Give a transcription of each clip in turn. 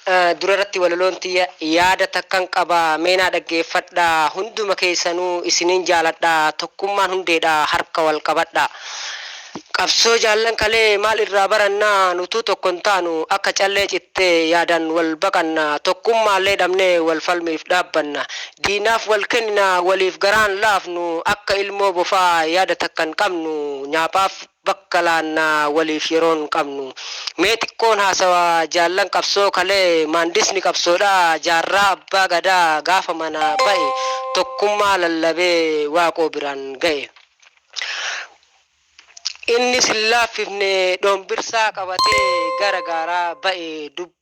Yaa dura irratti walaloon tiyya yaada takkan qaba mee naa dhaggeeffadha hunduma keessanuu isinin jaaladha tokkummaan hundeedha harka wal qabadha qabsoo jaallan kalee maal irraa baranna nutuu tokko hin taanu akka callee cittee yaadan wal baqanna tokkummaallee dhabnee wal falmiif dhaabbanna diinaaf wal kennina waliif garaan laafnu akka ilmoo bofaa yaada takkan qabnu nyaaphaaf bakka laanna waliif yeroon qabnu. Mee xiqqoon haasawa jaallan qabsoo kalee maandisni qabsoodhaa jaarraa abbaa gadaa gaafa manaa ba'e tokkummaa lallabee waaqoo biraan ga'e. Innis hin laaffifne dhoombirsaa qabatee gara gaaraa ba'e.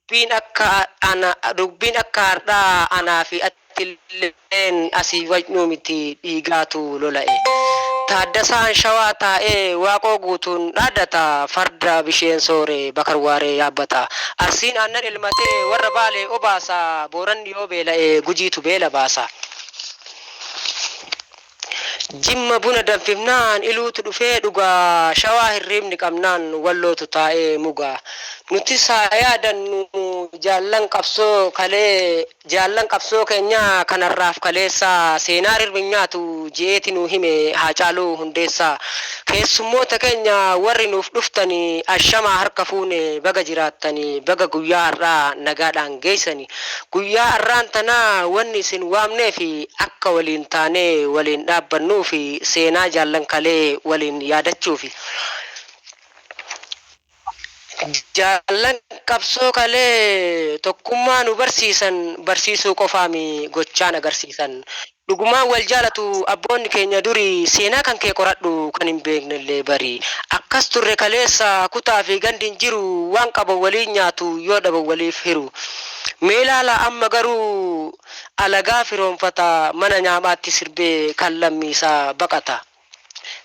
Dubbiin akka ana dubbiin akka hardhaa anaa fi attilleen asii wajnu miti dhiigaatu lola'e. Taaddasaan shawaa taa'ee Waaqoo Guutuun dhaaddata farda bisheen soore Bakar Waaree yaabbata. Arsiin aannan elmatee warra Baalee obaasa Booranni yoo beela'e Gujiitu beela baasa. Jimma buna danfifnaan iluutu dhufee dhugaa Shawaa hirriibni qabnaan wallootu taa'ee mugaa Nutis haa yaadannu jaallan qabsoo kalee Jaallan qabsoo keenyaa kan har'aaf kaleessaa Seenaa rirmi hin nyaatu je'eeti nuu hime Haacaaluu Hundeessaa Keessummoota keenya warri nuuf dhuftani Ashamaa harka fuune baga jiraattani Baga guyyaa har'aa nagaadhaan geessani. Guyyaa arraan tanaa wanni isin waamneef akka waliin taanee waliin dhaabbannuu fi seenaa jaallan kalee waliin yaadachuufi. Jaallan qabsoo kalee tokkummaa nu barsiisan barsiisuu qofaami gochaan agarsiisan. Dhugumaan wal jaalatu abboonni keenya durii Seenaa kan kee qoradhu kan hin beeknellee bari Akkas turre kaleessa kutaa fi gandi hin jiru Waan qaban waliin nyaatu yoo dhaban waliif hiru Mee ilaalaa amma garuu alagaa firoomfata Mana nyaamaatti sirbee kan lammiisaa baqata.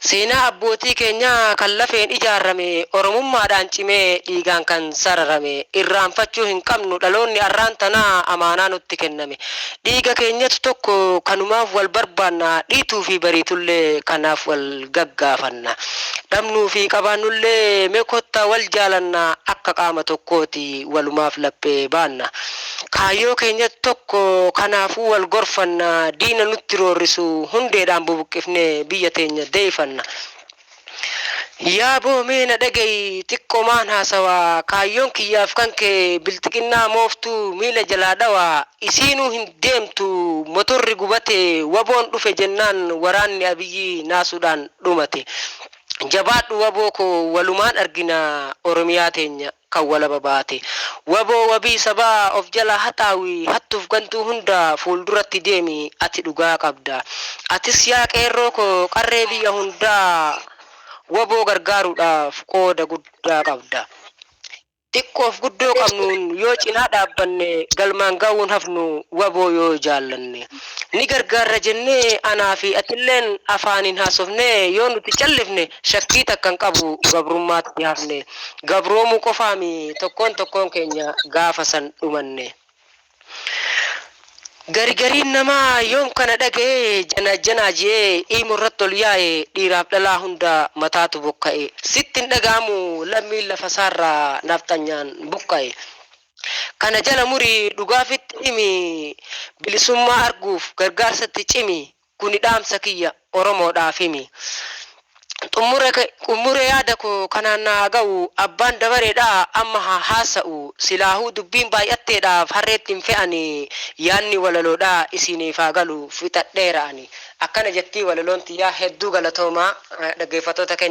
Seenaa abbootii keenyaa kan lafeen ijaarame, Oromummaadhaan cimee, dhiigaan kan sararame. Irraanfachuu hin qabnu, dhaloonni arraan tanaa amaanaa nutti kenname. Dhiiga keenyatu tokko, kanumaaf wal barbaanna, dhiituu fi bariitullee kanaaf wal gaggaafanna. Dhabnuu fi qabaannullee mee kottaa wal jaalannaa, akka qaama tokkooti walumaaf laphee baanna. Kaayyoo keenya tokko kanaafuu wal gorfanna, diina nutti roorrisu hundeedhaan bubuqqifnee biyya teenya deeyifanna. Yaa boo mee na dhagayi xiqqomaan haasawaa, kaayyoon kiyyaaf kankee bilxiginnaa mooftuu miila jalaa dhawaa, isiinuu hin deemtu motorri gubate waboon dhufe jennaan waraanni Abiyyii naasuudhaan dhumate. Jabaadhu waboo koo walumaan argina Oromiyaa teenya. kan walaba baate wbo wabii sabaa of jalaa haxaawi hattuuf gantuu hunda fuulduratti deemi ati dhugaa qabda atis yaa qeerroo koo qarree biyya hundaa wbo gargaaruudhaaf qooda guddaa qabda xiqqoof guddoo qabnuun yoo cinaa dhaabbanne galmaan ga'uun hafnu wbo yoo jaallanne ni gargaarra jennee anaa fi atilleen afaaniin haasofnee yoo nuti callifne shakkii takka hin qabu gabrummaatti hafne gabroomuu qofaa mii tokkoon tokkoon keenya gaafa san dhumanne. Garigariin namaa yoom kana dhaga'ee jana janaa je'ee iimo irratti ol yaa'e dhiiraaf dhalaa hunda mataatu bokka'e. Sitti hin dhaga'amu lammiin lafa isaarraa nafxanyaan buqqa'e. Kana jala muri dhugaa fitti himi bilisummaa arguuf gargaarsatti cimi. Kuni dhaamsa kiyya Oromoodhaafimi. Xummure yaada koo kanaan na haa ga'u. Abbaan dabareedha amma haa haasa'u. Silaahuu dubbiin baay'atteedhaaf harreetti hin fe'ani. Yaadni walaloodha isiiniif haa galu. Fixadheera ani. Akkana jettii walaloon tiyya. Hedduu galatoomaa dhaggeeffattoota keenya.